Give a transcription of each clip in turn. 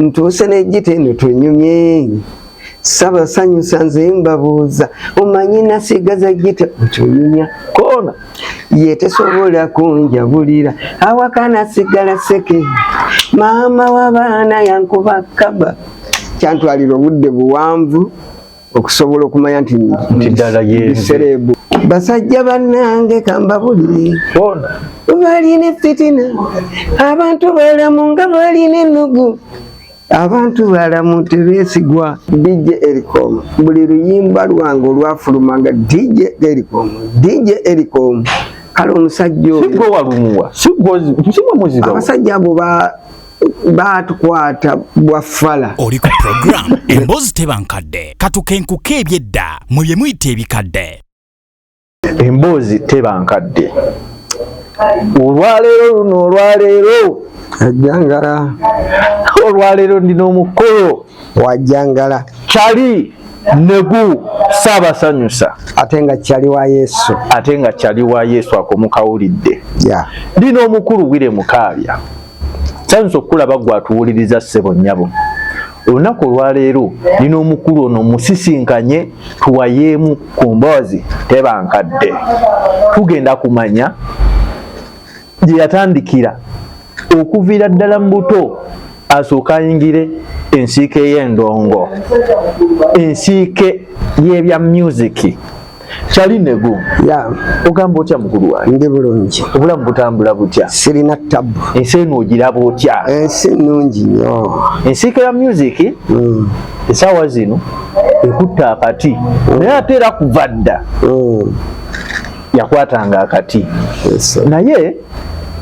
ntuuse n'ejjita eno tunyumye saba sanyusa nze mbabuuza omanyi nasigaza jjita okyonyumya koona yetesobola kunjabulira awaka nasigala seke maama w'abaana yankuba kaba kyantwalira obudde buwanvu okusobola okumanya nti ddala yesereebu basajja bannange kambabulire balina efitina abantu balamu nga balina ennugu abantu balamu tebeesigwa dj ericom buli luyimba lwange olwafuluma nga dj ericom dj ericom kale omusajja oyo sigwe walumuwa sigwe muziba abasajja abo ba baatukwata bwaffala oli ku puroguramu emboozi teba nkadde katukenkuka ebyedda mwe bye muyita ebikadde emboozi teba nkadde olwaleero luno olwaleero ajjangala olwaleero ndina omukolo wajjangala kyali negu saabasanyusa ate nga kyali wa yesu ate nga kyali wa yesu akomukawulidde yeah. lina omukulu wire mukaabya kyanyiza okukulaba gwe atuwuliriza ssebo nnyabo olunaku olwaleero nina omukulu ono musisinkanye tuwayeemu ku mboozi tebankadde tugenda kumanya gye yatandikira okuviira ddala mu buto asooka ayingire ensiike y'endongo ensiike y'ebya myuziki kyali nego ya ogamba otya mukulu wange ndi bulungi obulamu butambula butya sirina tabu ensi eno ogiraba otya ensi nnungi nnyo ensiika ya music mm. esaawa zino ekutte akati mm. naye ate era kuva dda mm. yakwatanga akati yes, naye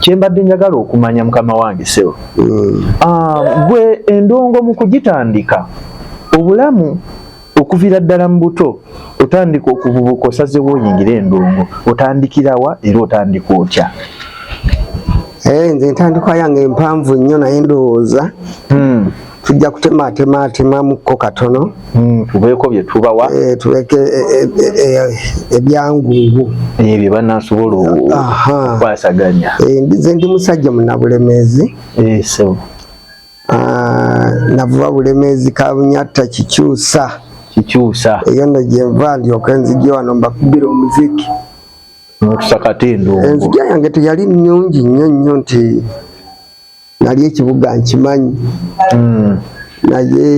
kyembadde njagala okumanya mukama wange sebo mm. uh, gwe endongo mu kugitandika obulamu okuvira ddala mu buto otandika okuvubuka osazewo oyingira endongo otandikirawa era otandika otya eh, nze entandikwa yange empanvu nnyo naye ndowooza hmm. tujja kutemaatemaatemamuko katono hmm, tubeeko byetubawa eh, tubeeko eh, ebyangungu ebyo banasobola okwasaganya nze ndi musajja munabulemezi Ah, navuba bulemezi kabunyatta kikyusa kikyusa eyo no gyenva ndyoka enzigi wano mbakubira omuziki nokusakata endongo enzigi yange teyali nyungi nnyo nnyo nti nali ekibuga nkimanyi hmm. naye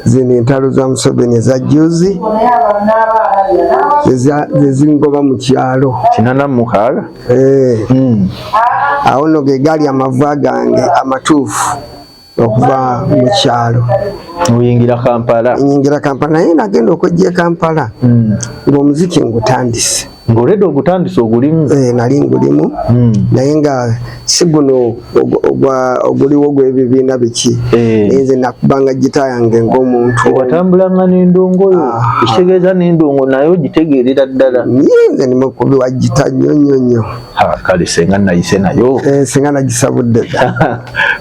zino entalo za museveni eza juzi zezingoba mu kyalo kinana mukaaga Eh. Hmm. awo nno ge gaali amavuba gange amatuufu okuva mu kyalo oyingira kampala nyingira kampala naye nagenda okwejja e kampala hmm. ng'omuziki ngutandise ng'oleda ogutandise ogulimu eh, nali ngulimu hmm. naye nga si guno oguliwo gwebibiina biki eh. naye nze nakubanga gita yange ngaomuntu watambulanga nendongoyo ah. ekitegeeza nendongo naye ogitegeerera ddala ye nze nimukubi wa gita nnyo nnyo nnyo kale senga nayise nayo eh, senga nagisabudde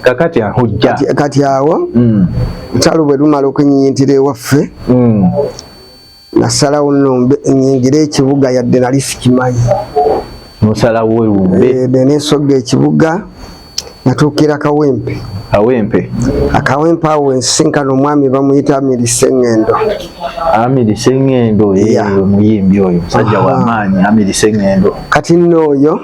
kakati ahujja kati awo hmm. nkyalo bwe lumala okunyiyintira ewaffe hmm. nasalawo nombe nyingire ekibuga yadde nali sikimanyi musalawo wewumbe eh, nenesoga ekibuga natuukira kawempe kawempe akawempe awo ensinkana omwami bamuyita amiri sengendo amiri sengendo omuyimbi oyo musajja wamaanyi amiri sengendo kati nooyo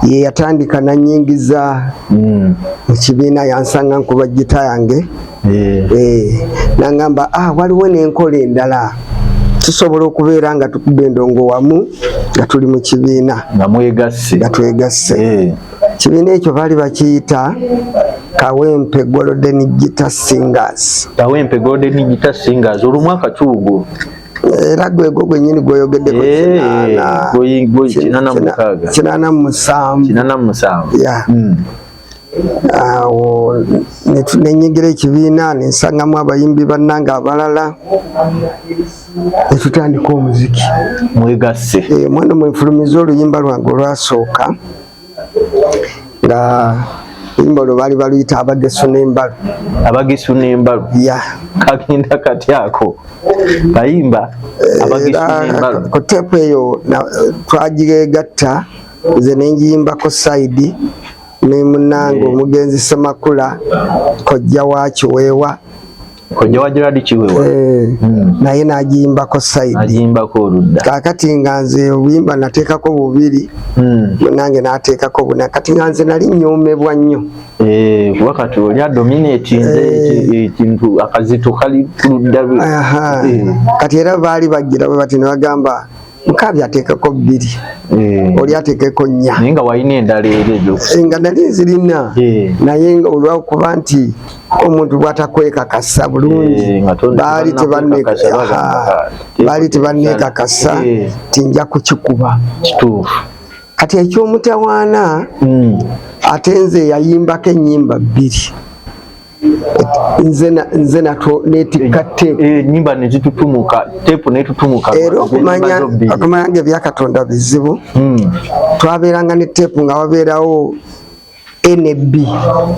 ye yatandika nanyingiza mm. mu kibiina yansanga nkuba gita yange yeah. e, nangamba ah, waliwo nenkola endala tusobola okubeera nga tukuba endongo wamu nga tuli mu kibiina nga twegasse yeah. kibiina ekyo baali bakiyita kawempe golden gita singers kawempe golden gita singers olumwaka kiwugulu era gwegwo gwenyini gwoyogeddeko eh, kinana musanvu hmm. awo nenyigira ekibiina nensangamu abayimbi bannange abalala netutandika omuziki mwegasse eh, mwana mwefulumiza oluyimba lwange olwasooka nga oluyimba olwo baali baluyita abagesu n'embalu abagesu n'embalu kagenda kati ako bayimba ku teepu eyo twagiregatta nze nenjiyimbako saidi ne munange omugenzi semakula kojja wa kiweewa kojja wa Gerard Kiwewa eh, hmm. naye nagimbako side nagimbako oludda kakati nga nze obuyimba nateekako bubiri hmm. nange nateekako buna kati nga nze nali nyomebwa nnyo eh, kuba kati oli adominati nze eh. ekintu akazito kali kuludda kati era baali bagira bwe bati ne bagamba nkaabi ateekeko bbiri eh. oli ateekeko nnya naye nga walina endala era ebyo eh, nga nali nzirina eh. naye nga olwakuba nti omuntu bwatakwekakasa bulungi baali baali tebanneekakasa nti nja kukikuba kituufu kati ekyomutawaana hmm. ate nze yayimbako ennyimba bbiri nze nato netikka tepu eh, enyimba nezitutumuka tepu netutumuka era okumanya okumanya nga ebyakatonda bizibu hmm. twabeeranga ne tepu nga wabeerawo NB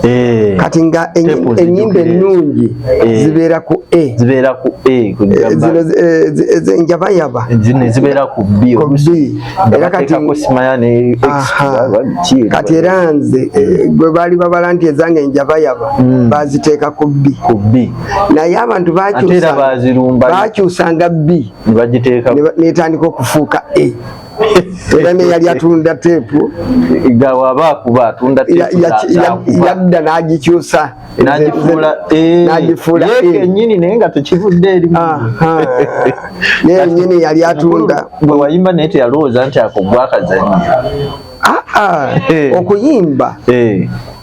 eh. kati nga enyimba ennungi eh. zibeera ku A zibeera ku A zino ezenjabayaba zibeera ku B era kati kati era nze eh, gwe baali babala nti ezange njabayaba hmm. baziteeka ku bbi ku bbi naye abantu bakyusanga bbi netandika okufuuka e era neyali atunda teepu yadda n'agikyusa nagifuula eh, eh. kenyini naye nga tekivudde erimu yenyini yali atunda bwe wayimba naye teyalowooza nti ako gwakazanyo ah, ah. eh. okuyimba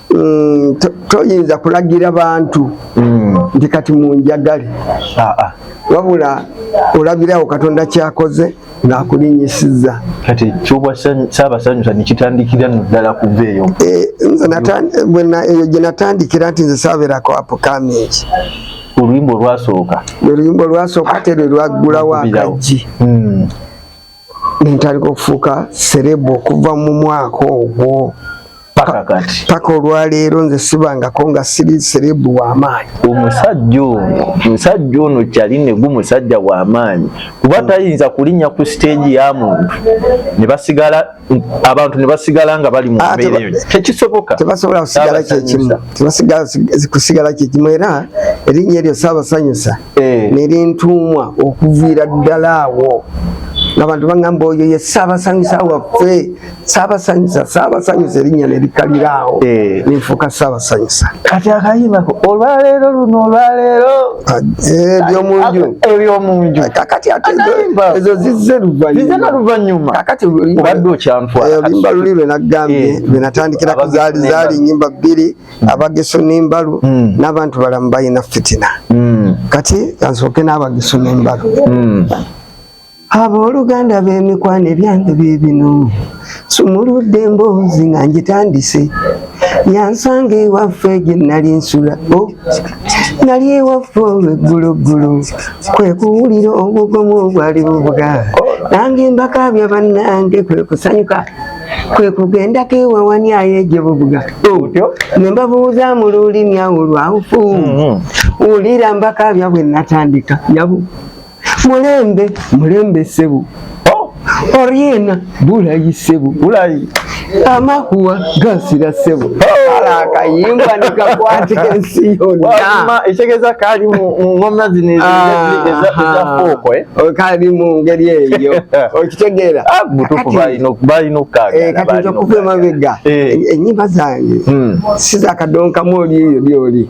mm, toyinza kulagira bantu mm. nti kati munjagale ah, ah. wabula olabirawo katonda kyakoze ng'akulinyisizza kati ekyobwa saabasanyusa nekitandikira no ddala kuva eyo eh, eyo gye natandikira nti nze saaberako apukamingi oluyimba olwasooka oluyimba olwasooka ate lwe lwaggulawo akajji hmm. nentandika okufuuka serebu okuva mu mwaka ogwo paka kati paka olwaleero nze sibangako nga siri serebu wamaanyi omusajja ono omusajja ono kyali negu musajja wamaanyi kuba tayinza kulinnya ku siteegi ya muntu nebasigala abantu nebasigala nga bali mumbeereyo ah, tekisoboka tebasobola kusigala kyekimu tebasigala kusigala kyekimu era erinnya eryo saabasanyusa eh. nerintuumwa okuviira ddala awo ngabantu bangamba oyo ye saabasanyusa waffe sabasanyusa sabasanyusa erinnya nerikalira awo eh. ninfuuka sabasanyusa kati akayimbako olwaleero luno olwaleero eh, ebyomunju eh, ebyomunju kakati ate ezo zizze luvannyuma kakati obadde okyanfwaolimba luli lwe nagambye lwe natandikira ku zaali zaali nyimba bbiri hmm. abageso n'embalu hmm. n'abantu balamu balina fitina hmm. kati kansooke n'abageso n'embalu Abooluganda b'emikwano ebyange bye bino sumuludde emboozi nga ngitandise yansanga ewaffe gye nali nsula oh, nali ewaffe olwegguloggulo kwe kuwulira obugomu obwali bubuga nange mbakaabya bannange kwe kusanyuka kwe kugendako ewawanyayo egye bubuga oh, ne mbabuuza mu lulimi awo lwawufu mm-hmm. wulira mbakaabya bwe natandika yabu mulembe mulembe sebo oh. oriena bulayi sebo bulayi amakuwa gasira sebo akayimba nikakwata ensi yonna ekitegeeza kali mu ngoma zino ezafuuko eh? oh, kali mu ngeri eyo okitegeera ah, balina okukagakati nja kuva emabega eh. enyimba zange hmm. sizakadonkamu oli eyo lyoli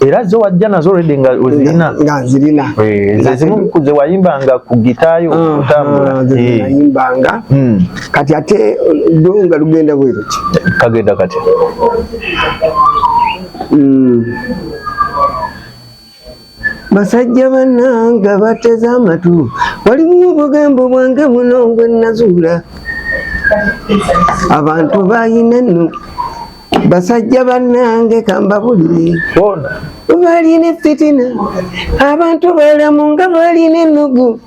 era zo wajja nazo already nga ozirina nga nzirina eh, nze zimu kuze wayimbanga ku gitaayo okutambula ah, eh. nayimbanga hmm. kati ate lunga lugenda bweru ki kagenda kati hmm. basajja bannanga bateze amatu waliwo obugambo bwange buno ngwe nazuula abantu bayina enno basajja bannange kambabulire balina efitina abantu balamu nga balina ennugu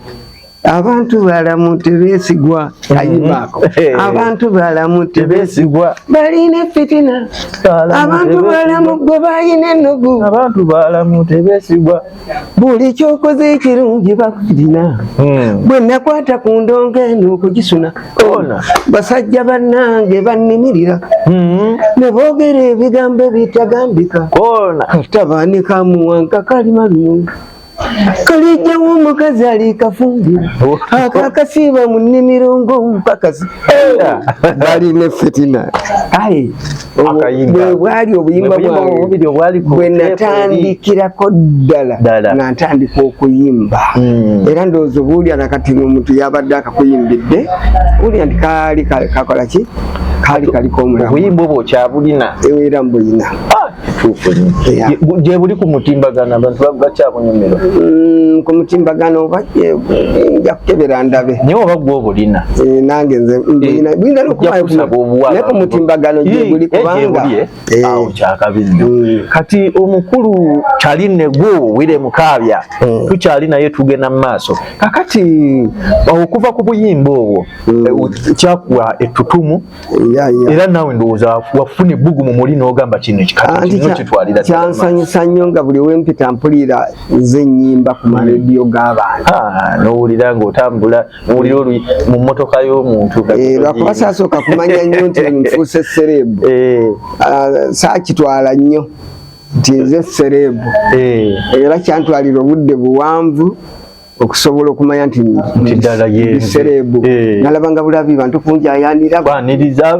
abantu balamu tebesigwa mhm. ayibaako abantu balamu tebesigwa balina efitina abantu balamu gwe balina ennugu abantu balamu tebesigwa buli kyokoze ekirungi bakirina hmm. bwe nakwata ku ndongo eno okugisuna basajja bannange bannimirira hmm. ne boogera ebigambo ebitagambika tabanika muwanka kalima lumu kalijjawo omukazi alikafumbira akakasiiba mu nnimiro ng'omupakazi bali ne fitina bwebwali obuyimba bwange bwenatandikirako ddala nga ntandika okuyimba hmm. era ndowooza obuwulya nakati omuntu yabadde akakuyimbidde wulya nti kaali kakola ki kaali kaliko omulaoyimba obwo okyabulina era mbulina ah, gyebuli ku mutimbagano abantu bakyabunyumira hmm, ku mutimbagano oba nja kukebera ndabe naye oba gwe obulina eh, nange nze eh, bulina nokumaye ku mutimbagano gyebuli eh, kubanga awo kyakabi nnyo mm. kati omukulu kyali negwo wire mukaabya mm. tukyali naye tugenda mu maaso kakati okuva ku buyimba obwo mm. kyakuwa ettutumu era naawe ndowooza wafuna ebbugu mu muli n'ogamba kino ekikatokitwalira kyansanyusa nnyo nga buli wempita mpulira nze nnyimba ku marediyo g'abantu ah, nowulira ng'otambula nowulira olu mu mmotoka y'omuntu eh, lwakuba saasooka kumanya nnyo nti nfuuse sereebu eh. ah, saakitwala nnyo nti nze sereebu eh. era kyantwalira obudde buwanvu okusobola okumanya nti ddala yesereebu eh. nalabanga bulabi bantu kunjayaniraaniriza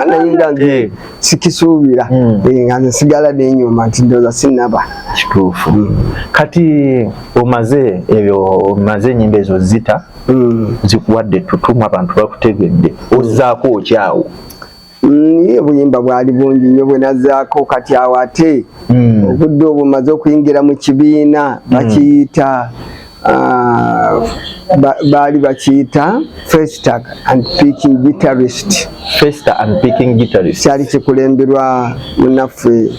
naye nga nze eh. sikisuubira hmm. eh, nga nze sigala nenyuma nti ndoza sinaba kituufu hmm. kati omaze ebyo omaze enyimba ezo zita hmm. zikuwadde tutumu abantu bakutegedde ozaako okyawo Ye buyimba bwali bungi nnyo bwe nazzaako kati awo ate hmm. obudde obwo maze okuyingira mu kibiina hmm. bakiyita ah, baali bakiyita festa and picking guitarist festa and picking guitarist kyali kikulemberwa munaffe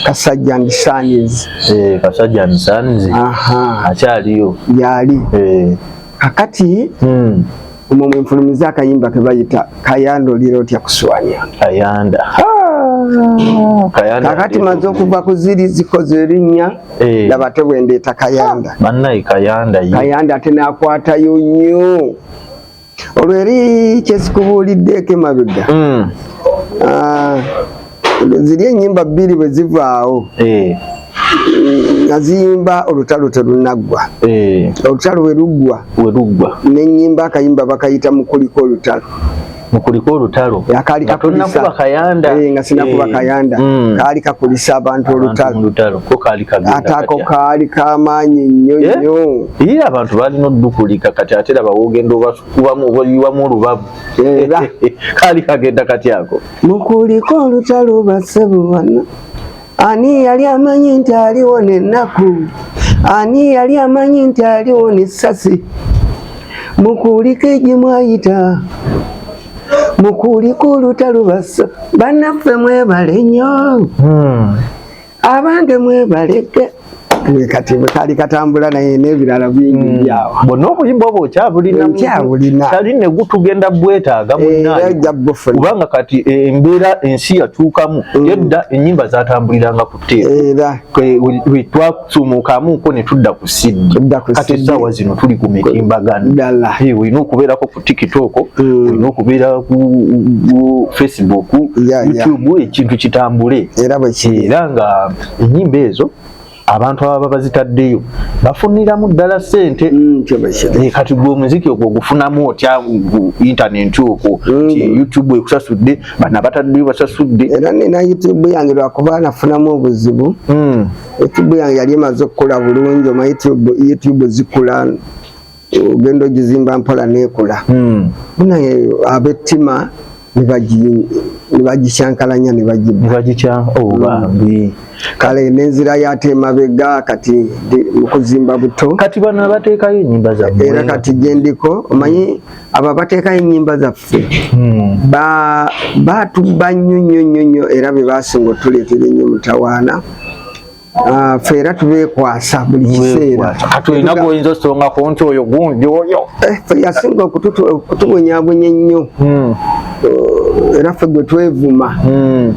kasajja and sons eh, kasajja and sons akyaliyo yali eh. kakati hmm. omwo mwenfulumiza akayimba kebayita kayanda olira otya kuswanya kayanda kakati maze okuva ku ziri zikoze erinnya eh. laba te bwendeeta kayanda banaye kayanda kayanda ate nakwatayo nnyo olwo eri kyesikubuuliddeeko emabega hmm. ah. ziri enyimba bbiri bwe zivaawo eh. nga ziyimba olutalo terunaggwa eh. olutalo weruggwa weruggwa nenyimba akayimba bakayita mukuliko olutalo mukuliko olutalo akaali kakulisa kayanda eh, nga sinakuba kayanda mm. kaali kakulisa abantu olutalo atako kaali kamaanyi nnyo nnyo ye abantu balina odukulika kati ate laba wogenda obakubamu obayiwamu olubabu kaali kagenda kati ako mukuliko olutalo basebubana ani yali amanyi nti aliwo nenaku ani yali amanyi nti aliwo nesasi mukuliko egimwayita mukuliko olutalo basa banaffe mwebale nyo hmm. abange mwebalege kati kali katambula naye n'ebirala bingi hmm. byawo bonna obuyimba obwo okyabulina kali ne gutugenda bwetaaga eh, kubanga kati eh, embeera ensi yatuukamu hmm. edda ennyimba zatambuliranga ku teera twasumukamuko ne tudda ku siddi kati essaawa zino tuli ku mitimbagano olina eh, okubeerako tiktok mm. olina okubeera ku facebook youtube ekintu kitambule era nga enyimba ezo abantu ababa bazitaddeyo bafuniramu ddala sente mm, eh, kati gwe omuziki ogwo ogufunamu otya intaneti okwo mm. youtube ekusasudde bana bataddeyo basasudde era nina youtube yange lwakuba nafunamu obuzibu mm. youtube yange yali emaze okukola bulungi oma youtube zikula ogenda ogizimba mpola nekula hmm. naye abettima nebagikyankalanya nebagibambi oh, kale nenzira yate emabega kati mukuzimba buto kati bano abateekayo enyimba zaffe era kati gyendiko omanyi abo abateekayo enyimba zaffe hmm. batubba nnyo nnyo nnyo nnyo era bebasinga otuleetera ennyo mutawaana Ah, ffe era tubekwasa buli kiseera katulina gwoyinza osongako nti oyo gundi oyo eh, yasinga okutubonyabonya ennyo hmm. eh, era ffe gwe twevuma hmm.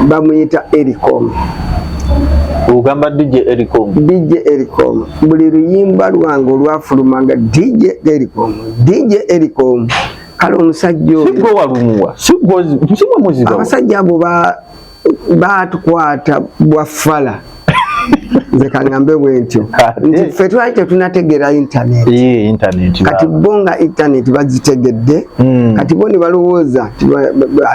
bamuyita ericom ogamba dj ericom dj ericom buli luyimba lwange olwafulumanga dj ericom dj ericom kale omusajja oyo sigwe walumuwa sigwe muziba abasajja abo ba batukwata bwafala nze kangambe bwentyo nti ffe twali tetunategeera intaneti kati bo nga intaneti bazitegedde hmm. kati bo ne balowooza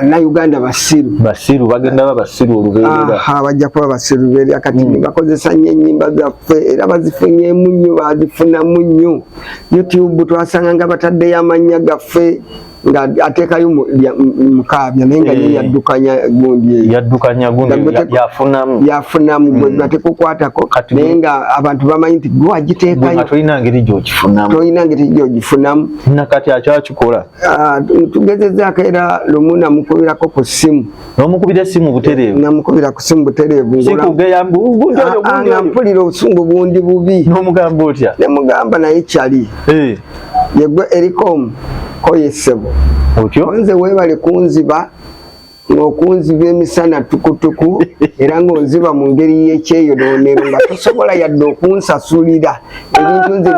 na uganda basiru basiru bagenda ba basiru olubeerera bajja kuba basiru lubeerera kati hmm. bakozesa nnyo ennyimba zaffe era bazifunyemu nnyo bazifunamu nnyo youtube twasanga nga bataddeyo amannya gaffe nga atekayo mukaabya naye nga ye eh. yaddukanya gundi eyo yaddukanya gundi yafunamu yafunamu gwe hmm. gateka okwatako naye nga abantu bamanyi nti gwe wagiteekayo tolina ngeri gyogifunamu tolina ngeri gyogifunamu nakati akyakikola ah, tugezezaako era lumu namukubirako ku ssimu nomukubira esimu butereevu namukubira ku simu butereevu sikugeya mbugundi oyo ah, ah, nga mpulira obusungu bundi bubi nomugamba otya nemugamba naye kyali eh. yegwe erikomu koyesebo otyo nze webale kunziba ng'okunziba emisana tukutuku era ng'onziba mu ngeri y'ekyeyonoonero nga tosobola yadde okunsasulira ebintu nze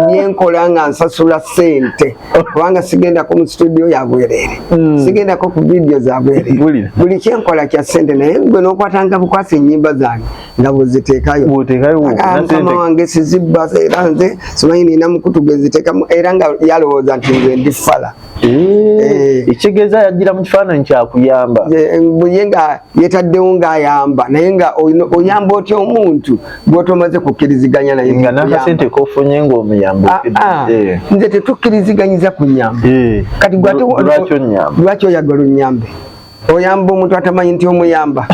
byenkola nga nsasula sente kubanga sigendako mu situdio ya bwerere hmm. sigendako ku vidiyo za bwerere buli kyenkola kya sente naye gwe nokwatanga bukwasa enyimba zange nga bweziteekayomukama wange sizibba era nze simanyi nina mukutu gweziteekamu era nga yalowooza nti nze ndi fala Eh. ekitegeeza yagira mu kifaananyi kyakuyamba ye nga yetaddewo ngaayamba naye nga oyamba otya omuntu gwotomaze kukkiriziganya naye nga nakasente kofunye ngaomuyamba ah, ah. eh. nze tetukkiriziganyiza kunyamba eh. kati lwaki oyagala onyambe oyamba omuntu atamanyi nti omuyamba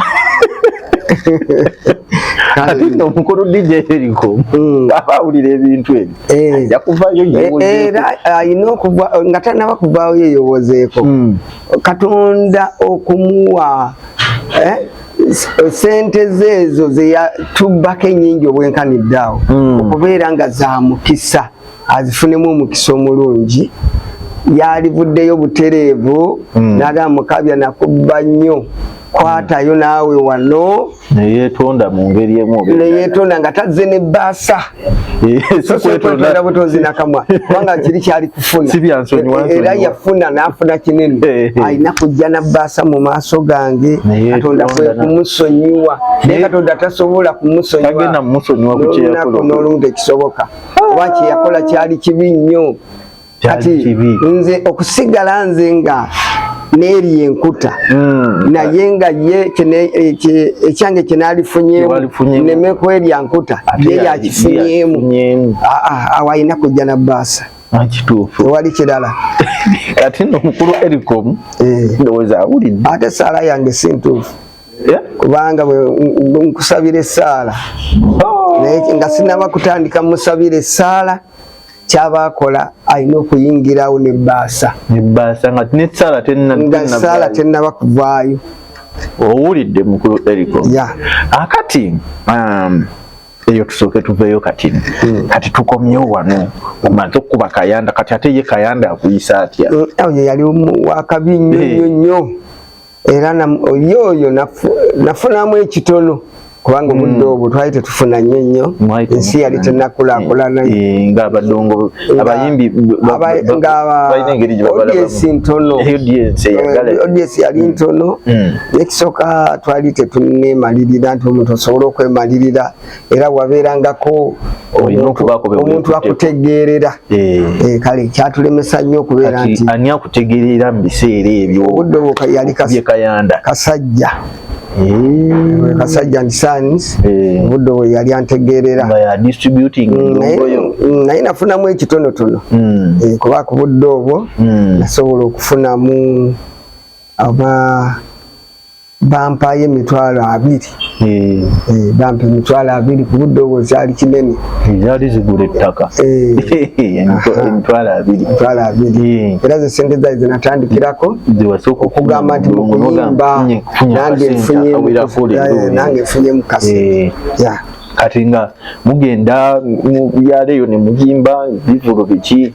ate no mukulu DJ eriko hmm. aba awulira ebintu ebyo eh. ajja kuvayo eh, eh, era alina okuva nga tanaba kuvaawo yeyowozeeko hmm. katonda okumuwa sente zeezo zeyatubbako enyingi obwenkanidde awo hmm. okubeera nga zamukisa azifunemu omukisa omulungi yalivuddeyo butereevu mm. nagamba mukabya nakubba nnyo kwatayo mm. naawe wano neyetonda mu ngeri emu neyetonda nga tazze ne baasa eh, kwetonda butonzi nakamwa kubanga kiri kyali kufuna eh, era yafuna nafuna kinene eh, alina kujja na baasa mu maaso gange katonda kwe kumusonyiwa naye katonda tasobola kumusonyiwa nolumu tekisoboka oba kyeyakola kyali kibi nnyo kati nze okusigala nze nga neeri enkuta hmm. naye nga ye ekyange kyenalifunyemu neme kwerya nkuta ye yakifunyemu awo alina kujja na baasa kituufu wali kirala kati no mukulu ericom eh. ndowooza awulidde ate esaala yange si ntuufu kubanga nkusabira essaala oh. nga sinaba kutandika musabira essaala kyabakola alina okuyingirawo nebbaasa nga saala tenaba kuvaayo owulidde mukulu eriko akati um, eyo tusooke tuveeyo kati hmm. kati tukomyewo wano omaze okukuba kayanda kati ate ye kayanda akuyisa atya hmm, oyo yali wakabi nnyo nnyo nnyo era yoyo nafunamu ekitono kubanga hmm. obudde obwo twali tetufuna nnyo nnyo ensi yali tenakulakulana eh, eh, nga abadongo abayimbi ngaods ntono ods eh, yali hmm. ntono hmm. nekisooka twali tetunemalirira nti omuntu osobola okwemalirira era wabeerangako omuntu akutegeerera eh. Eh, kale kyatulemesa nnyo okubeera nti ani akutegeerera mu biseera ebyo obudde obwo yali kayanda kasajja Eh. kasajja ndi sons eh. buddo we yali antegeerera mm, mm, naye nafunamu ekitonotono mm. eh, kuba ku buddo obwo nasobola okufunamu aba bampaayo emitwalo abiri eh. Eh, bampa emitwalo abiri ku budde obwo zaali kinene eh, zaali zigula ettaka emitwalo abiri emitwalo abiri era ze sente zaali zinatandikirako okugamba nti mukuyimba nange nfunyenange nfunye mukasi kati nga mugenda mu byalo eyo ne muyimba bivulu biki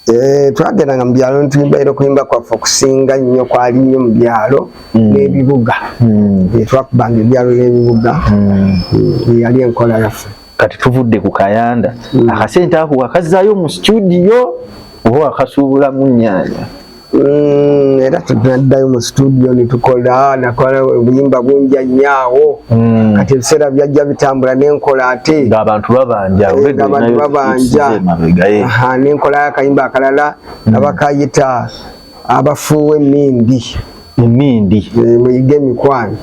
Eh, twagendanga mu byalo netuyimba era okuyimba kwaffe okusinga nnyo kwali nnyo mu byalo hmm. n'ebibuga hmm. eh, twakubanga ebyalo n'ebibuga hmm. eh, yali enkola yaffe kati tuvudde ku kayanda akasente ako wakazaayo mu situdiyo oba wakasuubulamu nnyanya Mm, era tunaddayo mu situdiyo netukola nakola obuyimba bungi anyaawo mm. kati ebiseera byajja bitambula nenkola ate ngaabantu babanja eh, nenkola akayimba akalala mm. abakayita abafuuwa emindi emindi eh, muyige emikwano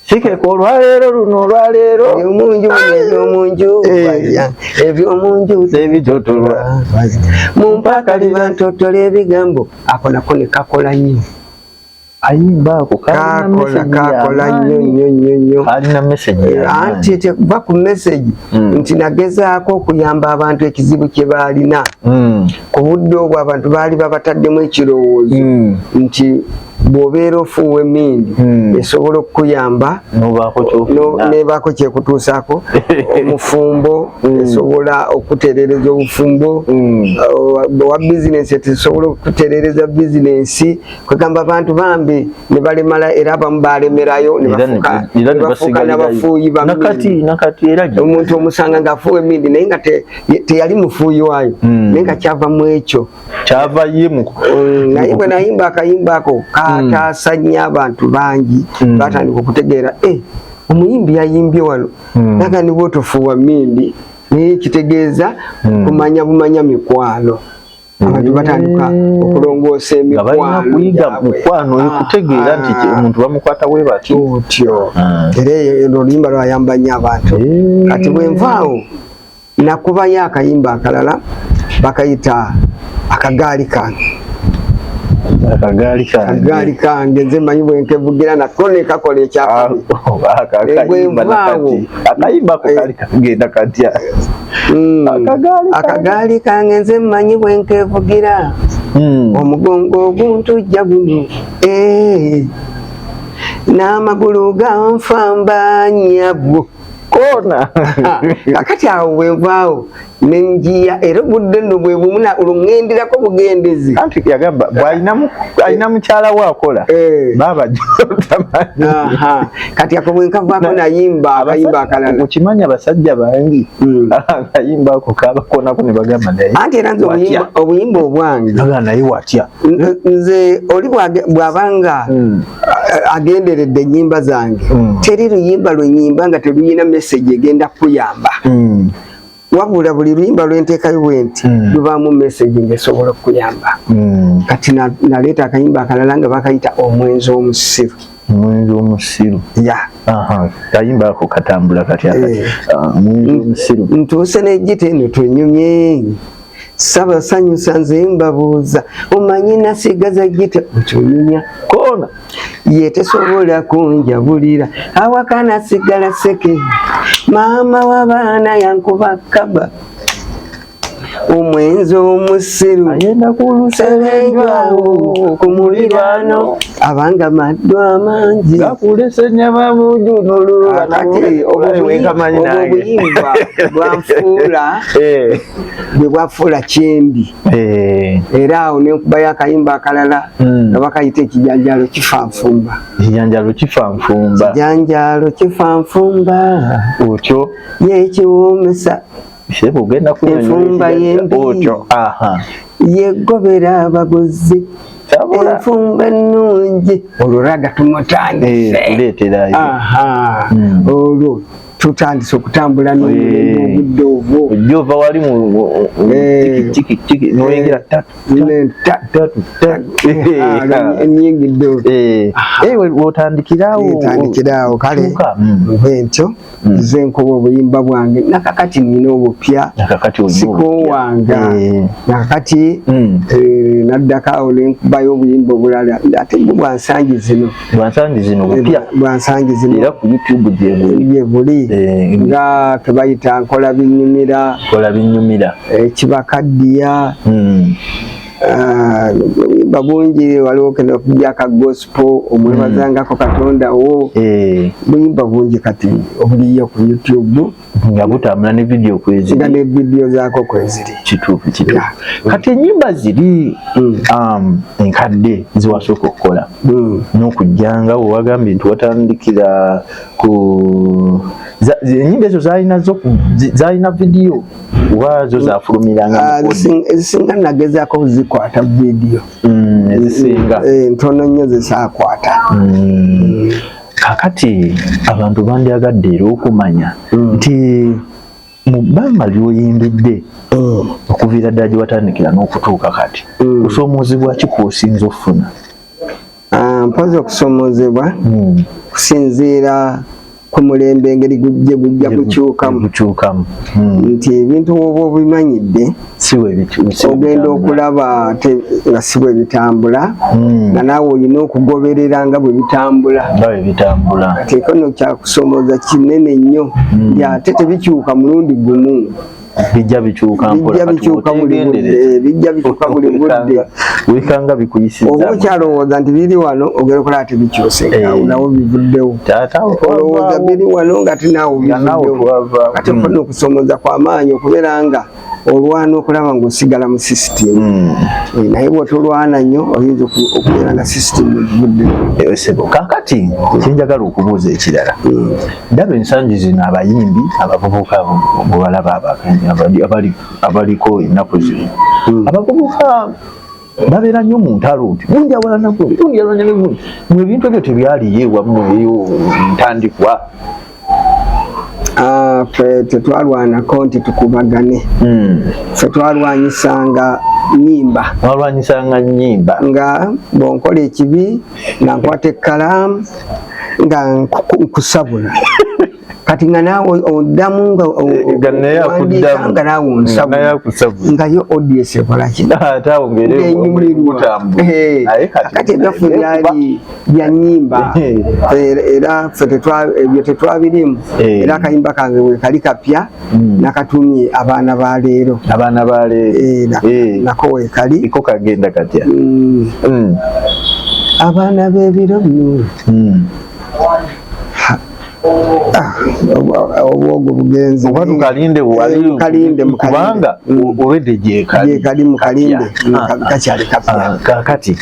Sikeka olwaleero luno olwaleero ebyomunju ebyomunju eh. ebyomunju zebitotolwa mumpaaka libantotole ebigambo ako nako nekakola nnyo ayimba ako kakola nnyo nnyo nnyo nnyo alina meseji eh, anti tekuva ku meseji hmm. nti nagezaako okuyamba abantu ekizibu kye baalina hmm. ku budde obwo abantu baali babataddemu ekirowoozo hmm. nti bw'obeera ofuuwa emmindi hmm. esobola okukuyamba nebaako kyekutuusaako omufumbo hmm. esobola okutereereza obufumbo hmm. uh, wa bizinensi etesobola okutereereza bizinensi kwegamba abantu bambi ne balemala era abamu balemerayo nebafuuka nabafuuyi omuntu omusanga ng'afuuwa emmindi naye nga teyali mufuuyi waayo naye nga kyava mu ekyo kyava ye mu mm, naye bwe nayimba akayimba ako kataasa mm. nnyo abantu bangi mm. baatandika okutegeera e omuyimbi yayimbye wano naga niba otofuuwa mindi naye kitegeeza kumanya bumanya mikwano abantu batandika okulongoosa emikwanokuyigamukwano ekutegeera nti ah. omuntu bamukwata we bati otyo era oluyimba lwayamba nnyo abantu kati bwenvaawo nakubayo akayimba akalala bakayita akagaali kange akagaali kange nze manyi bwenkevugira nako nekakola ekyakaakagaali eh, kange nze manyi bwenkevugira hmm. omugongo oguntujja guno eh. n'amagulu ganfamba nyabwo koona kakati awo wevaawo nenjiya era obudde no bwebumuna olungendirako bugendezi anti yagamba bwalina mukyala we akola eh. baba kati ako bwenkavako nayimba akayimba akalala okimanyi abasajja bangi hmm. akayimba ako kabakonako nebagamba naye anti era nze obuyimba obwange naye watya nze oli bwabanga hmm. agenderedde enyimba zange hmm. teri luyimba lwenyimba nga teluyina message egenda kuyamba hmm. wabula buli luyimba lwentekayo bwenti lubamu message ngesobola okuyamba kati naleeta akayimba akalala nga bakayita omwenzi omusiru omwenzi omusiru kayimba ako katambula kati eh. ah, ntuuse nejita eno twenyumye sabasanyusa nze mbabuuza omanyi nasigaza gita okyonyumya koona yetesobola kunjabulira awaka nasigala seke maama wabaana yankuba kaba omwenzi omusiru ayenda kuluserenjwawo ku muliraano abanga maddu amangi gakulese nyama munju nolululakati obuyimba bwanfuula eh. bwe bwafuula kyendi eh. era awo nenkubayo akayimba akalala hmm. nga bakayita ekijanjalo kifanfumba ekijanjalo kifanfumba kijanjalo kifanfumba otyo yekiwomesa enfumba yembi yegobera abaguzi enfumba ennungi olwo raga tumutandise eh, hmm. olwo tutandise okutambula n'obudde obwo ojja ova wali mutikitiki noyingira nyingidde wotandikiraawotandikiraawo kale nve ntyo nze nkoba obuyimba bwange nakakati nina obupya sikowanga nakakati naddako awo nenkubayo obuyimba obulala ate bwansangi zino bwansangi zino bupya bwansangi zino era ku youtube gyebuli eh, nga kebayita nkola binyumira nkola binyumira ekibakaddiya eh, hmm. ah, bulimba bungi waliwo kena okubyaka gospo omwebazangako hmm. katonda wo eh. bulimba bungi kati obuliyo ku youtube nga butambula ne vidiyo kweziri nga ne vidiyo zaako kweziri kituufu kituufu yeah. kati enyimba ziri mm. um, enkadde ziwasooka okukola mm. n'okujjanga wewagambye nti watandikira ku enyimba ezo zalina zalina vidiyo oba zo zafulumiranga ah, ezisinga nagezaako kuzikwata vidiyo mm, ezisinga eh, ntono nnyo zesakwata mm. kakati abantu bandyagadde era okumanya mm. nti mu bbanga lyoyimbidde mm. okuviira ddala gye watandikira n'okutuuka kati mm. kusoomoozebwa ki kwosinza okufuna ah, mpozi okusoomoozebwa kusinziira ku mulembe engeri gye gujja gukyukamu nti ebintu woba obimanyidde ogenda okulaba ate nga si bwe bitambula hmm. nga naawe olina okugoberera nga bwe bitambula teeka no kyakusomooza kinene nnyo hmm. ate tebikyuka mulundi gumu bijja bikyuka mpola bikyuka buli budde bijja bikyuka buli budde wekanga bikuyisiza obo kyalowooza nti biri wano ogera okola ati bikyuse eh. awo nawo bivuddewo olowooza biri wano nga tinaawo bivuddewo kati mpono hmm. okusomooza kwa maanyi okubeera nga olwana okulaba ngaosigala mu system hmm. eh, naye bwotolwana nnyo oyinza okubeera nga system egivuddesebo eh, kakati kyenjagala okubuuza ekirala hmm. ndaba ensangi zino abayimbi abavubuka bwebalaba abaliko ennaku zino hmm. abavubuka babeera nnyo mu ntalo nti gundi awalana gundi gundi awalana ne gundi mu ebintu ebyo tebyaliyo ewamu eyo ntandikwa ah, fe tetwalwanako nti tukubagane hmm. fe twalwanyisanga nyimba walwanyisanga nyimba nga bwonkola ekibi nga nkwata ekkalaamu nga nkusabula kati nga naawe oddamu nganaawe onsabnaye ods ekolakinyumirwakati ebyaffe byali byanyimba era fe ebyo tetwabirimu eh. era akayimba kange wekali kapya hmm. nakatumye abaana ba leero abaana ba leero eh, eh. nako wekali iko kagenda katya hmm. Hmm. abaana bebiro bino Ah, obwogo bugenze oba tukalinde walkalinde eh, kubanga mm. olwedde gyekali mukalinde kakyali ah, kakati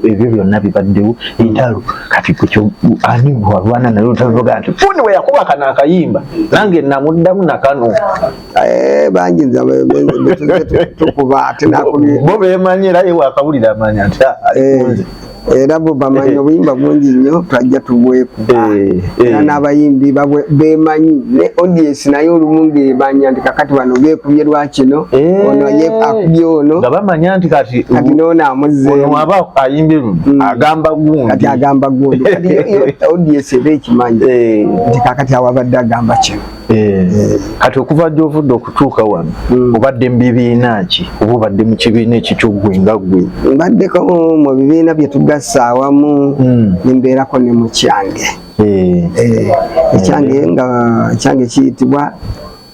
ebyo byonna bibaddewo entalo kati ani walwana naye otaloga nti fundi we yakuba kano akayimba nange namuddamu nakano eh, bangi tukuba ate nakubo bemanyi era ye wakawulira amanya nti ah, eh. era bo bamanyi eh. obuyimba bungi nnyo twajja tubwekuba eh, eh. era n'abayimbi bemanyi ne audience naye olumu ngebanya nti kakati bano bekubye lwakino ono ye akubye ono nga bamanya nti kati kati noono amuzzeemu aba ayimbye luno mm. agamba gundi kati agamba gundi kati audience eba ekimanyi nti kakati awabadde agamba kino Eh, kati okuva gyovudde okutuuka wano hmm. obadde mu bibiina ki oba obadde mu kibiina ekikyogwe nga gwe mbaddeko mu bibiina bye tugassa awamu hmm. nembeerako ne mu kyange eh. Eh, ekyange nga ekyange kiyitibwa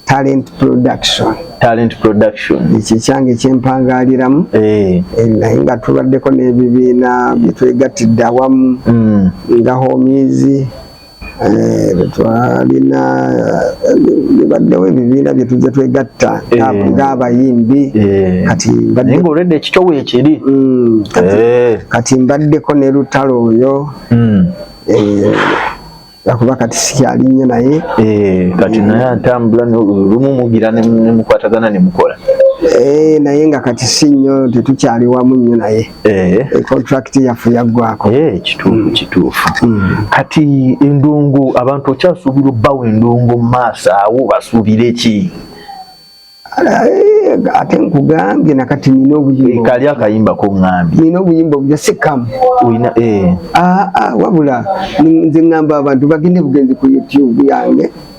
talent production talent production ekyo ekyange kyempangaaliramu naye nga tubaddeko n'ebibiina byetwegattidde awamu hmm. nga homizi Eh, twalina bibaddewo eh, ebibiina byetujja twegatta eh. ng'abayimbi kati olwedde ekikyo weekiri mm, kati mbaddeko ne lutalo oyo mm. akuba kati sikyali nnyo naye kati naye atambula lumu mugira nemukwatagana nemukola naye nga kati si nnyo tetukyali wamu nnyo naye eh. eh, contract yaffe yaggwako eh, kituufu mm. kituufu mm. kati endongo abantu okyasuubira obbawo endongo mu maaso awo basuubire ki Eh, ate nkugambye nakati nina obuyimba kali akayimba kongambye nina obuyimba obuja sikamu olina eh. ah, ah, wabula nze ngamba abantu bagende bugenzi ku youtube yange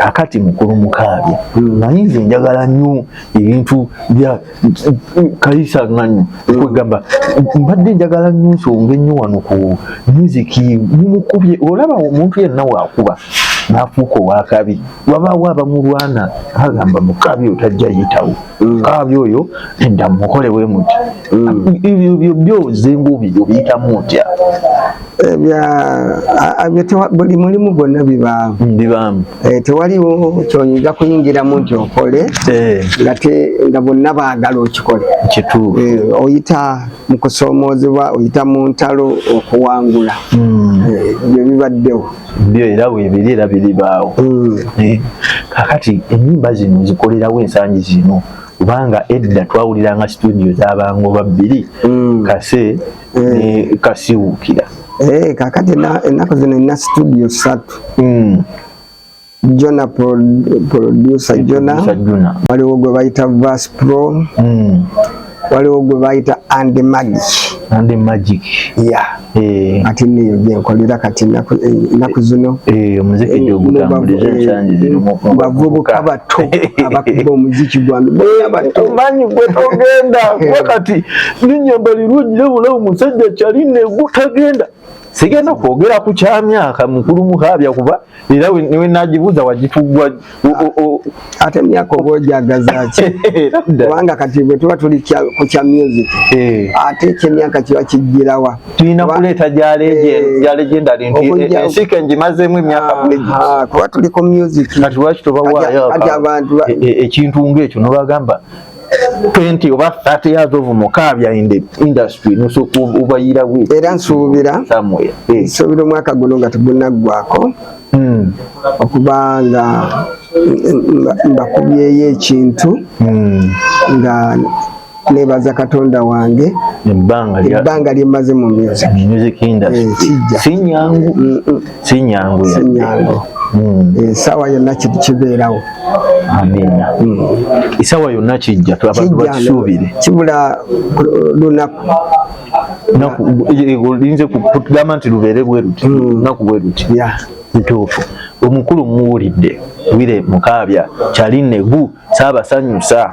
akati mukulu mukaabya hmm. naye nze njagala nnyo ebintu bya kayisa nanyo okwegamba mbadde njagala nnyo nsonga ennyo wano ku muziki mumukubye olaba omuntu yenna wakuba nafuuka owakabi wabaawo abamulwana agamba mukabi otajja yitawo mm. kabi oyo edda mukole wemuti mm. ebyo byozengobyo biyitamu ntya buli mulimu gwonna bibaamu mm, eh, tewaliwo kyoyinza kuyingiramu nti okole eh. nga bonna baagala okikole eh, oyita mu kusoomoozebwa oyita mu ntalo okuwangula mm. byo bibaddewo byo era webiri era biribaawo mm. kakati enyimba zino zikolerawo ensangi zino kubanga edda twawuliranga situdio zabangoba bbiri kase eh. kasiwukira eh, kakati ennaku zino ina studio satu hmm. jona producer jona waliwo gwe bayita vas pro hmm. waliwo gwe bayita and magic and magic ya eh. ati niyo gyenkolera kati enaku zino bavubuka bato abakuba omuziki gwange bato manyi gwetogenda wakati nenyambala erungi nebulawo musajja kyali negutagenda sigenda kwogera ku kyamyaka mukulu mukaabya kuba era wenagibuuza wagitugwa ate emyaka oba ojagazaki kubanga kati bwe tuba tuli ku kya music eh. ate ekyemyaka kiba kijjirawa tulina kuleeta gya eh. legendary nti eh, ensika engimazeemu emyaka ah, bwegi ah, kuba tuli ku music kati lwaki tobawaayo ekintu ngaekyo nobagamba 20 oba 30 years of mukabya in the industry nusuku ubayira we era nsubira somewhere eh. nsubira omwaka guno nga tugunaggwako hmm. okuba nga mbakubyeyo ekintu hmm. nga nebaza katonda wange ebbanga lyemaze mu music eh, sinyangu sinyangu sinyangu hmm. eh, esawa yonna kiti kibeerawo amina hmm. esawa yonna kijja abantu bakisuubire kibula lunaku oyinza eh, kugamba nti lubeere bwe luti hmm. lunaku bwe luti ntuufu omukulu muwulidde wire mukaabya kyali negu saabasanyusa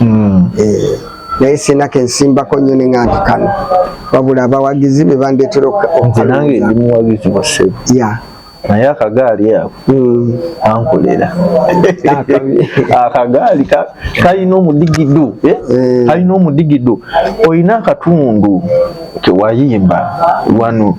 mm. eh, naye sina kensimbako nnyo ne nga nti kano wabula abawagizi be bandeetera okanange ndi muwagizi wa sebo ya naye akagaali ako mm. ankolera akagaali kalina omudigido eh? eh. kalina omudigido olina akatundu kewayimba wano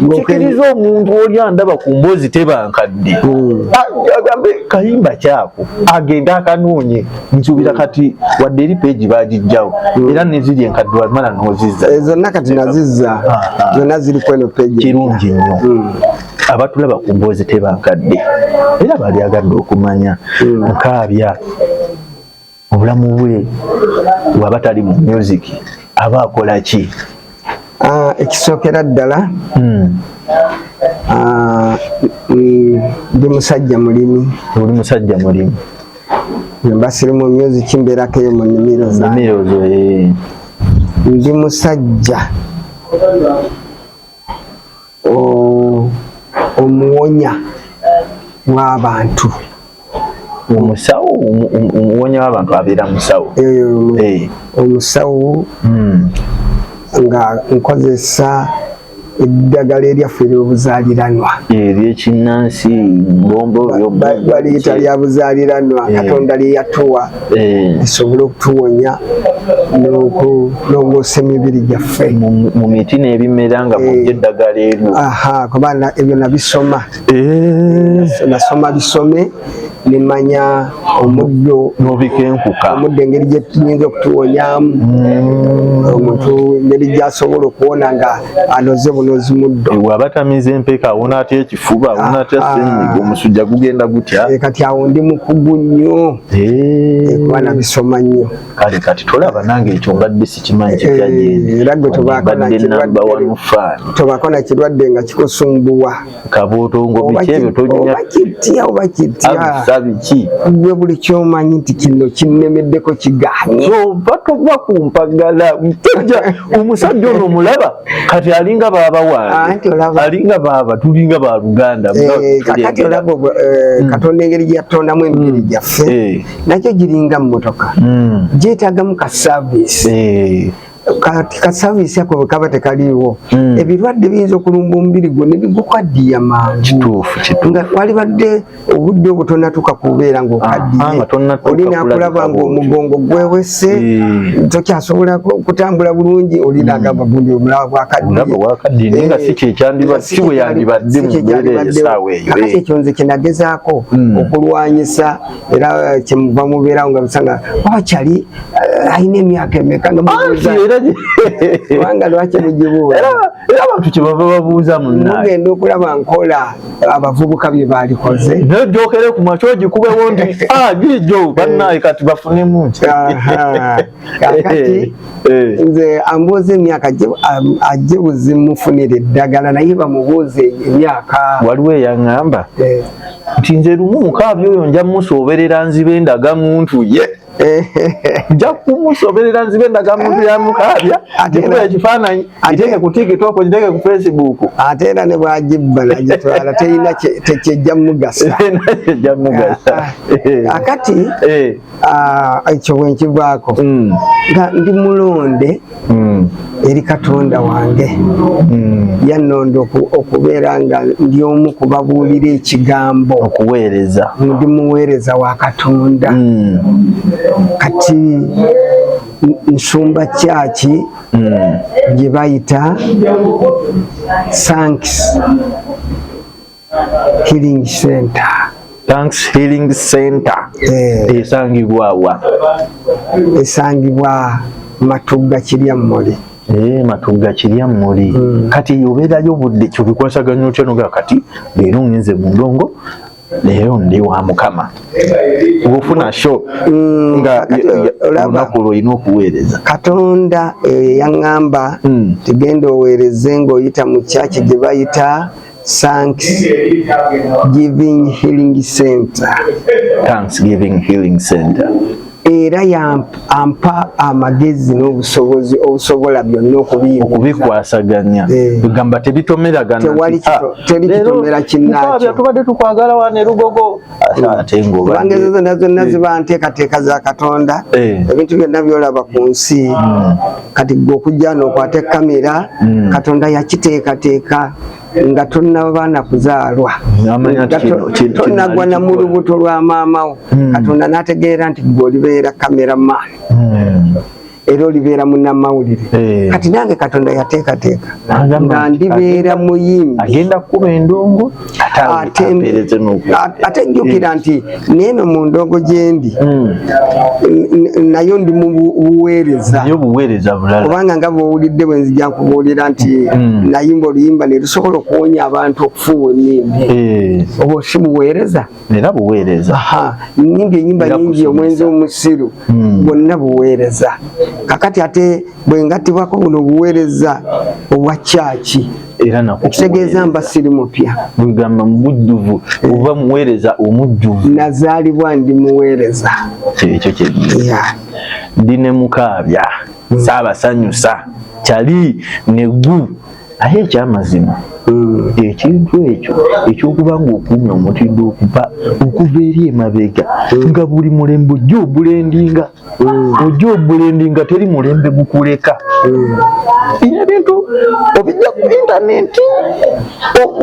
nkikiriza omuntu oli andaba ku mboozi tebankadde hmm. ah, agambe kayimba kyako agenda akanoonye nsuubira kati wadde eri peegi bagijjawo hmm. era neziri enkadde wamala nozizza eh, zonna kati nazizza ah, ah. zonna ziri kweno peegi kirungi nnyo hmm. abatulaba ku mboozi tebankadde era bali agadde okumanya nkaabya obulamu bwe waba tali mu music aba akola ki ah, ekisookera ddala hmm. ah, mm, ndi musajja mulimi oli musajja mulimi mba siri mu music mbeerako eyo mu nimiro zange eh. ndi musajja omuwonya w'abantu omusawo omuwonya w'abantu abeera musawo eh. omusawo hmm. nga nkozesa eddagala eryaffe eryobuzaliranwa eryekinnansi bombo baliyita lya buzaliranwa eh. katonda lyeyatuwa eh. esobole okutuwonya n'okulongoosa emibiri gyaffe mu miti n'ebimera nga mujja eh. eddagala eryo aha kuba ebyo nabisoma eh. nasoma bisome nemanya omuddo nobikenkuka omuddo engeri gyetuyinza okutuwonyamu mm. omuntu engeri gyasobola okuwona nga anoze bunozi muddo waba tamize empeka awona atya ekifuba awona atya ah, ah. senyiga omusujja gugenda gutya kati awo ndi mukugu nnyo kuba nabisoma nnyo kale kati tolaba nange ekyo mbadde sikimanyi kyekyagenda tobako nakirwadde nga kikusumbuwa kabotongobityebyotokitya oba kityabiki gwe buli kyomanyi nti kino kinnemeddeko kiganye oba tova kumpagala omusajja ono omulaba kati alinga baba wange ah, alinga baba tulinga ba luganda eh, kati olaba eh, mm. katonda engeri gyeyatondamu emibiri mm. gyaffe eh. nakyo giringa mmotoka mm. gyetagamu ka service kasabisa ko kaba tekaliwo hmm. ebirwadde biyinza okulumba omubiri gwo nebigukwaddiya mangu nga walibadde obudde obwo tonatuka kubeera ngaokaddiye ah, olina kulaba ngaomugongo gwewese eh. tokyasobola kutambula bulungi olina hmm. gamba gundi obulawa bwakaddiyeakati ekyo nze kyenagezaako hmm. okulwanyisa era eh, kyemuva mubeerawo nga bisanga wakyali eh, alina emyaka emeka nga kubanga lwaki mugibuwa era abantu kyebava babuuza munnaegenda okulaba nkola abavubuka bye baalikoze naye jokere ku makyo ogikubewo nti ah, gijo bannaye kati bafunemu nti kakati eh, eh. nze ambuuza emyaka ajje buzimufunira eddagala naye bamubuuze emyaka waliwo eyaŋŋamba eh. nti nze lumu mukaabi oyo nja musoberera nzibe ndaga muntu ye nja kumusoberera nzibe ndaga muntu yamukaabya agikuba ekifaananyi agiteeke ku tiktok agiteeke ku facebook ate era ne bwagibba nagitwala terina tekyejja mugasa akati ekyo bwenkigwako nga ndi mulonde hmm. eri katonda wange hmm. yannonda okubeera nga ndi omu kubabuulira ekigambo okuweereza ndi muweereza wa katonda hmm. kati nsumba kyaki gye bayita sanks Healing Center. Thanks Healing Center. Eh. Esangibwa wa? Esangibwa Matugga Kiryammuli. Eh, Matugga Kiryammuli. Hmm. Kati obeerayo budde kyobikwasaganya otya noga kati leero ngenze mu ndongo leero ndi wa mukama ofuna sho hmm. nga olunaku olwo olina okuweereza katonda eyo eh, yaŋŋamba hmm. tigenda oweereze ng'oyita mu kyaki gye bayita Thanks Giving Healing Center. Thanks Giving Healing Center. era yampa amagezi n'obusobozi obusobola byonna okubikwasaganya eh. egamba tebitomeragana tewali ah, kitomera kinnakyotubadde tukwagala wane lugogo bangezeza na zonna ziba nteekateeka za katonda eh. ebintu byonna byolaba ku nsi hmm. kati gwe okujja nokwata ekamera hmm. katonda yakiteekateeka nga tonabaana kuzaalwa tonagwa na mu lubuto lwa maamawo hmm. katonda nategeera nti gwe olibeera kamera maani era olibeera munnamawulire eh. kati nange katonda yateekateeka nga ndibeera muyimbi agenda kukuba endongo ate njukira nti neeno mu ndongo gyendi hmm. nayo ndi mu buweereza kubanga nga bwowulidde bwe nzija nkubuulira nti hmm. nayimba oluyimba ne lusobola okuwonya abantu okufuuwa emimbi eh. obwo si buweereza era buweereza nyimba enyimba nyingi omwenzi omusiru hmm. bwonna buweereza kakati ate bwengatibwako buno buweereza obwa kyaki ekitegeeza mba siri mupya wegamba mubujjuvu oba muweereza omujjuvu nazaalibwa ndi muweereza kyekyo kyenyini ndi ne mukaabya hmm. saabasanyusa kyali negu aye ekyamazima hmm. ekintu ekyo ekyokuba nga okuumya omutindo okuva okuva eri emabega hmm. nga buli mulembe ojja obulendinga hmm. ojja obulendinga teri mulembe gukuleka bino ebintu obijja ku intaneti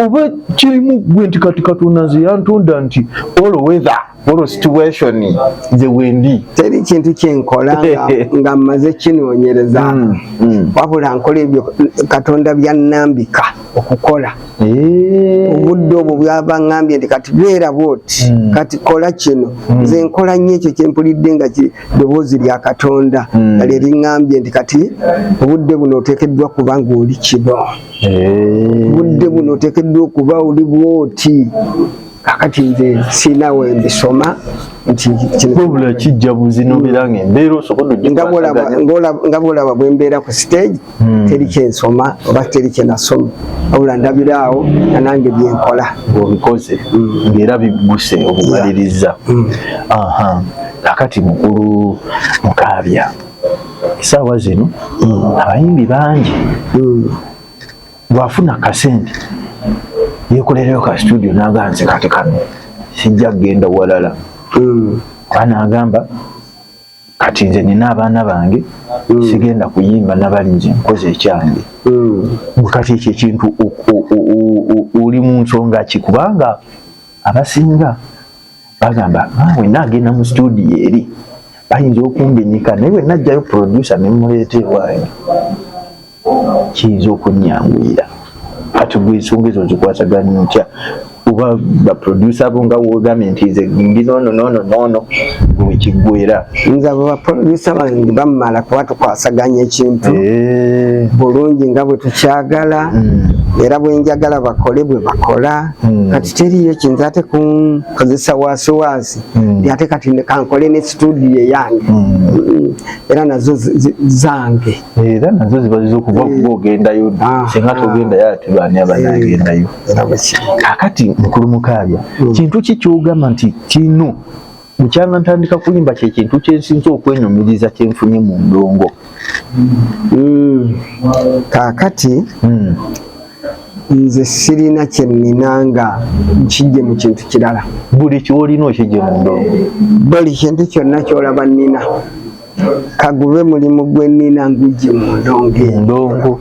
oba kirimu gwe nti kati katonda nze yantonda nti olowetha olwo situation gye wendi teri kintu kyenkola nga mmaze kinoonyereza mm, mm. wabula nkola ebyo katonda byannambika okukola eh. obudde obwo bwaba ngambye nti kati beera bwoti mm. kati kola kino nze nkola nnyo ekyo kyempulidde nga ddoboozi lya katonda nga lye liŋambye nti kati obudde buno oteekeddwa kuba ng'oli kino eh. obudde buno oteekeddwa okuba oli bwoti kakati nze sirina we mbisoma nti wabula kijja buzino bera nga embeera osobola nga bwolaba bwe mbeera ku stage hmm. teri kyensoma oba teri kyenasoma wabula ndabira awo nga nange byenkola ngaobikoze hmm. ngaera bigguse obumaliriza hmm. kakati mukulu mukaabya esaawa zino abayimbi bangi bwafuna kasente yekolereyo ka studio naga nze kati kano sijja kugenda walala mm. ana agamba kati nze nina abaana bange mm. sigenda kuyimba nabali nze nkoze ekyange mm. kati ekyo ekintu oli mu nsonga ki kubanga abasinga bagamba ah, wena agenda mu studio eri bayinza okumbinika naye wenajjayo producer nemuleeta ewayo kiyinza okunyanguyira kati gwe ensonga ezo nzikwasaganya otya oba baproducer bo nga wogambye nti nze ndi nono nono nono wekiggwera nze abo baproducer bange bamala kuba tukwasaganya ekintu eh. bulungi nga bwe tukyagala hmm. era bwenjagala bakole bwe bakola hmm. kati teriyo kinze ate kunkozesa wasiwasi hmm. ti ate kati kankole ne studio yange era nazo zange era nazo ziba zizokuva eh. kuba ogendayo ah, singa ah. togendayo ati baani abanagendayo eh, kakati mukulu mukaabya hmm. kintu ki kyogamba nti kino bukyanga ntandika kuyimba kyekintu kyensinza okwenyumiriza kyenfunye mu ndongo hmm. kakati hmm. nze sirina kyenina nga nkijje mu kintu kirala buli kyolina okijje mu ndongo buli kintu kyonna kyolaba nina kagube mulimu gwenina ngujje mu ndongo endongo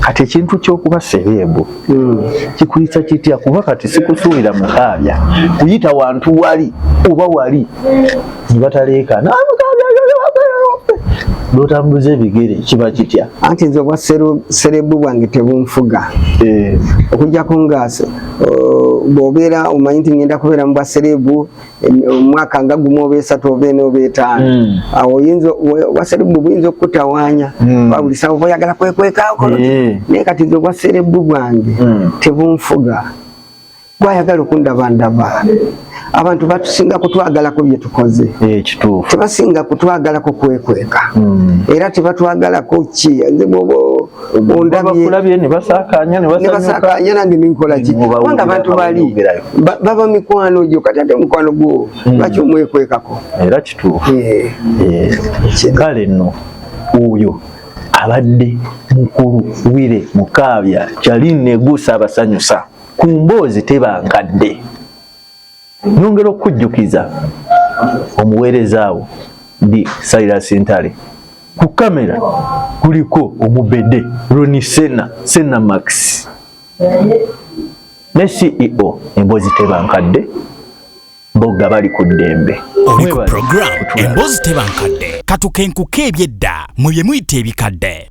kati ekintu kyokuba sereebu hmm. kikuyisa kitya kuba kati sikusuubira mukaabya kuyita wantu wali oba wali nebataleeka notambuza ebigere kiba kitya anti nze obwa sereebu bwange tebunfuga eh. okujjako nga bwobeera omanyi nti ngenda kubeera mu bwa sereebu omwaka nga gumu oba esatu oba ena oba etaano hmm. awo oyinza obwaserebu buyinza okukutawaanya hmm. babulisa oba oyagala kwekwekaako eh. naye kati nze obwaserebu bwange hmm. tebunfuga gwayagala okundaba ndaba abantu batusinga kutwagalako byetukoze eh, tebasinga kutwagalako kwekweka era tebatwagalako ki babakulabye ne basakaanya ne basakaanya nange ninkola ki kubanga abantu bali baba mikwano gyo kati ate mukwano gwo hmm. lwaki omwekwekako era kituufu eh. Eh. kale nno oyo abadde mukulu wire mukaabya kyali neguusa abasanyusa ku mboozi tebankadde Nyongera okujjukiza omuweereza wo ndi Silas Ntale ku kamera kuliko omubede Roni Sena Sena Max ne CEO embozi tebankadde bogga bali ku ddembe oli ku programu embozi tebankadde katukenkuka ebyedda mwe bye muyita ebikadde